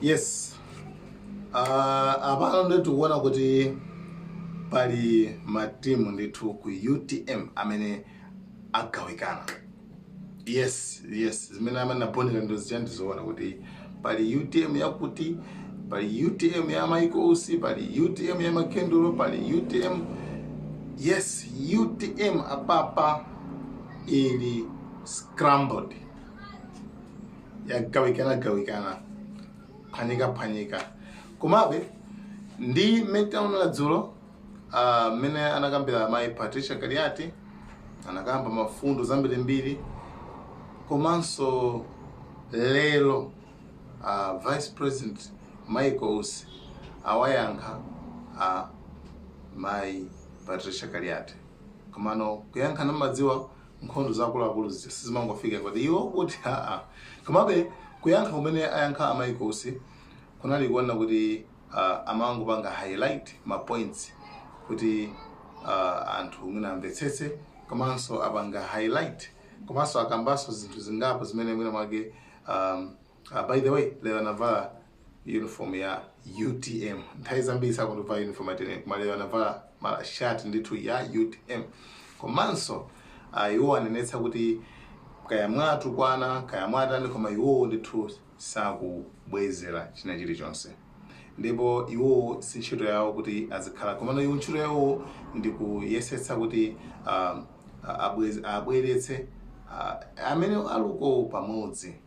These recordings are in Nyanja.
yes uh, apano nditu tikuona kuti pali matimu ndithu ku utm amene agawikana yes yes zimene amene aponera ndo zichani tizoona kuti pali utm yakuti pali utm ya michael usi pali utm ya makendulo pali utm yes utm apapa ili scrambled yagawikanagawikana phanyikaphanyika komabe ndi mmene taonera dzulo ah, mmene anakambira mayi patricia kaliati anakamba mfundo zambirimbiri komanso lero ah, vice president michael usi awayankha a mayi patricia kaliati komano kuyankhana mumadziwa nkhondo za akuluakulu zija sizimangofika kuti iwo kuti aa komabe kuyankha kumene ayankha a michael usi kunali kuona kuti ah, amangopanga highlight ma points kuti ah, anthu mwina amvetsetse komanso apanga highlight komanso akambanso zinthu zingapo zimene mwina mwake um, Ah, by the way, lero anavala uniform ya UTM. Nthawi zambiri sakundivala uniform ya UTM, koma lero anavala mala shirt ndithu ya UTM. Komanso ah, iwo anenetsa kuti kaya mwatukwana kaya mwatani koma iwowo ndithu sakubwezera china chilichonse ndipo iwowo si ntchito yawo kuti azikhala komano iwo ntchito yawo ndi kuyesetsa kuti ah, ah, abwez- abweretse ah, amene alikowo pamodzi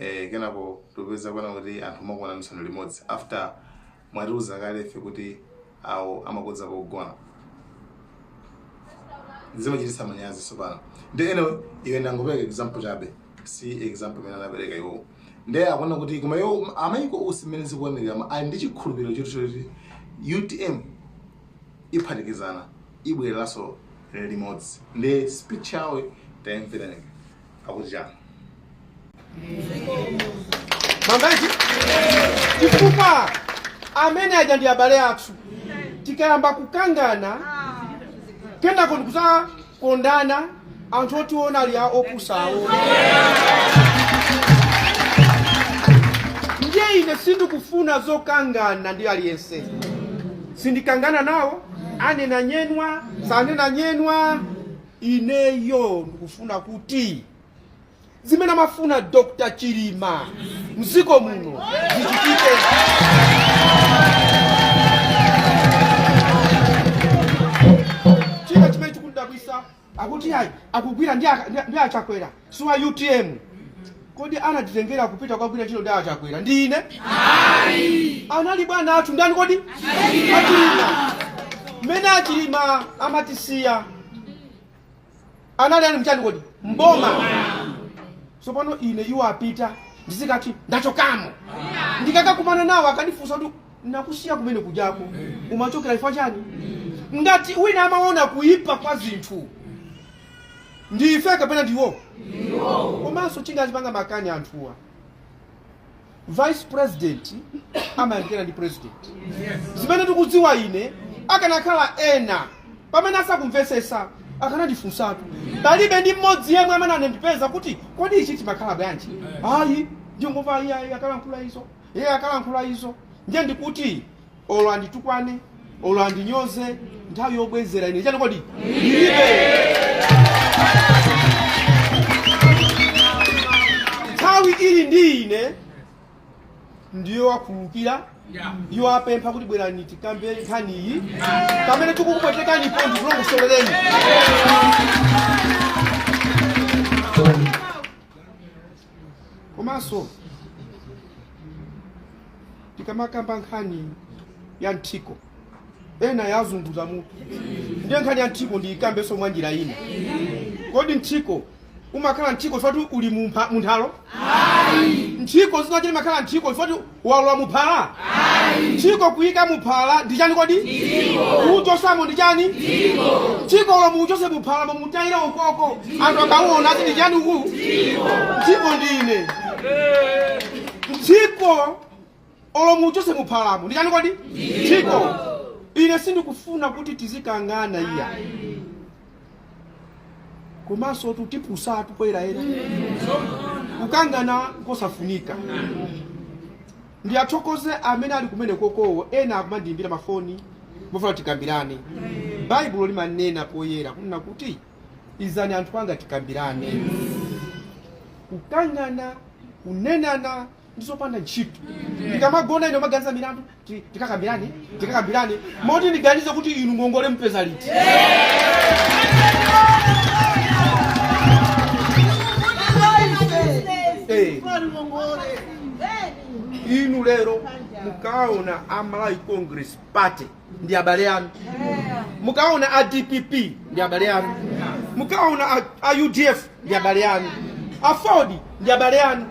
eh, kenako tikupeza kuona kuti anthu mumakuona misonkhano limodzi after mwatiuza kale ife kuti awo amakodza pogona zimachititsa manyazi tsopano ndi ene iwe ndangopereka example chabe si example imene anapereka iwowo ndi akuona kuti koma iwo a michael usi mmene zikuonekera ma- ali ndi chikhulupiriro choti choti utm iphatikizana ibwereranso limodzi ndi speech yawo tayimverani akuti chani mambaji chifukwa amene aja ndi abale athu tikayamba kukangana kenako ndikuzakondana anthu otiona ati a opusawo ndiye ine sindikufuna zokangana ndi aliyense sindikangana nawo anena nyenwa sanena nyenwa ineyo ndikufuna kuti zimene amafuna dr chilima mziko muno zichitike china chimene chikundidabwitsa akuti ayi akugwira ndi aka- ndi- ndi a chakwera si wa utm kodi anatitengera kupita kukagwira ntchito ndi achakwera ndi ine anali bwana athu ndani kodi achilima mmene achilima amatisiya anali ali mchani kodi mboma tsopano ine iwo apita ndizikati ndachokamo ndikakakumana nawo akandifunsa kuti nakusiya kumene kujako umachokera chifukwa chani ngati wina amaona kuipa kwa zinthu ndife kapena ndiwo komanso chingazipanga makani anthuwa vice president amayandikira ndi president zimene ndikudziwa ine akanakhala ena pamene asakumvesesa akanandifunsatu palibe ndi mmodzi yemwe amene anandipeza kuti kodi ichi chimakhala bwanji ayi ndingomva iye akalankhula izo iye akalankhula izo ndiye ndikuti olo anditukwane olo andinyoze nthawi yobwezera ine chani kodi ndilibe nthawi ili ndi ine ndi yowakhululukira iwo apempha kuti bwerani tikambe nkhani iyi pamene tikukupwetekanipo ndikulongosolereni komanso tikamakamba nkhani ya mthiko ena yazunguza mutu ndiye nkhani ya mthiko ndiyikambenso mwa njira ina kodi mthiko umakhala mthiko chifukwa kuti uli mu nthalo mthiko zinachita umakhala mthiko chifukwa kuti walowa muphala mthiko kuyika muphala ndi chani kodi kuuchosamo ndi chani mthiko olo muuchose muphalamo muutayire ukoko anthu akauona ati ndi chani uku mthiko ndine mthiko olo muuchose muphalamo ndi chani kodi mthiko ine sindikufuna kuti tizikangana iya komanso tutipusatu poyera ena kukangana kosafunika ndiwathokoze amene ali kumene kokowo ena akumandiyimbira mafoni mofuna tikambirane baibulo limanena poyera kunena kuti izani anthu anga tikambirane kukangana kunenana ndi zopanda ntchito ndikamagona ine maganiza milandu tikakambirane tikakambirane moti ndiganize kuti inu ngongole mpeza liti inu lero mukaona a malawi congress party ndi abale anu mukaona a dpp ndi abale anu mukaona a udf ndi abale anu aford ndi abale anu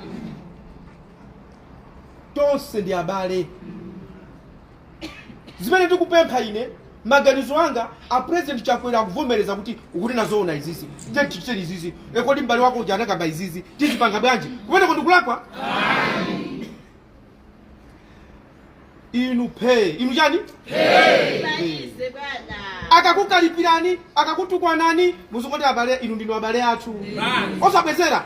Tonse ndi abale. Zimene ndikupempha ine, maganizo anga, a President Chakwera akuvomereza kuti ukutinena zoona izizi. Ndiye tichite izizi. E kodi m'bale wako uja anakamba izizi. Tizipanga bwanji? Kumeneko ndikulakwa? Inu pay. Inu chani? akakukalipirani akakutukwanani muzingoti abale inu ndinu abale athu osabwezera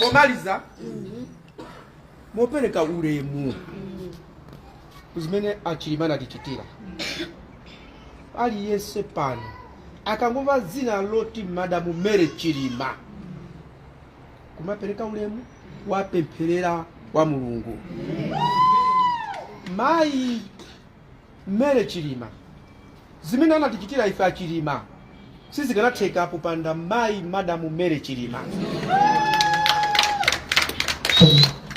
komaliza mopereka ulemu ku zimene achilima anatichitira aliyense pano akangomva dzina loti madamu Mary chilima kumapereka ulemu kuwapempherera kwa mulungu mayi Mary chilima zimene anatichitira ife achilima sizikanatheka popanda mayi madamu Mary chilima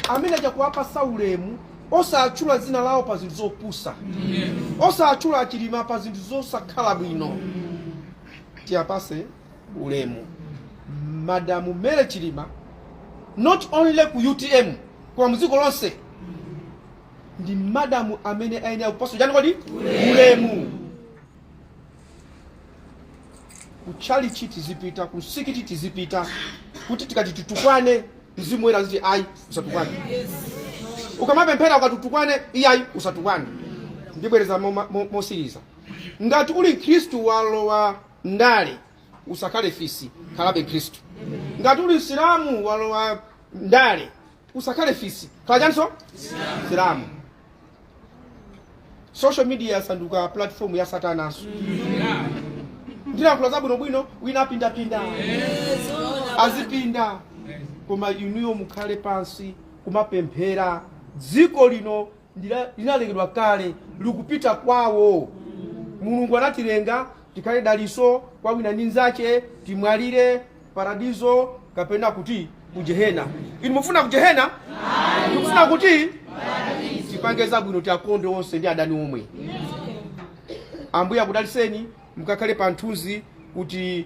amene aja kuwapasa ulemu osatchula dzina lawo pa zinthu zopusa osatchula achilima pa zinthu zosakhala bwino tiyapase ulemu madamu Mary chilima not only ku utm koma mdziko lonse ndi madamu amene ayenera kupasa chani kodi ulemu kutchalichi tizipita kumsikiti tizipita kuti tikati titukwane mzimu woyera uziti ayi usatukwane ukamapemphera ukatutukwane iyayi usatukwane ndibwereza mosiriza ngati uli mkhristu walowa ndale. Usakhale fisi, khalabe Mkhristu. Ngati uli Msilamu walowa ndale, usakhale fisi, khala chanso Msilamu. Social media asanduka platform ya satananso. Ndilankhula zabwinobwino, wina apindapinda azipinda koma inuyo mukhale pansi kumapemphera dziko lino linalengedwa kale likupita kwawo mulungu anatilenga tikhale daliso kwa wina ndi nzache timwalire paradizo kapena kuti kujehena inu mufuna kujehena ndikufuna kuti tipange zabwino tiakonde onse ndi adani omwe ambuye akudaliseni mukakhale pa nthunzi kuti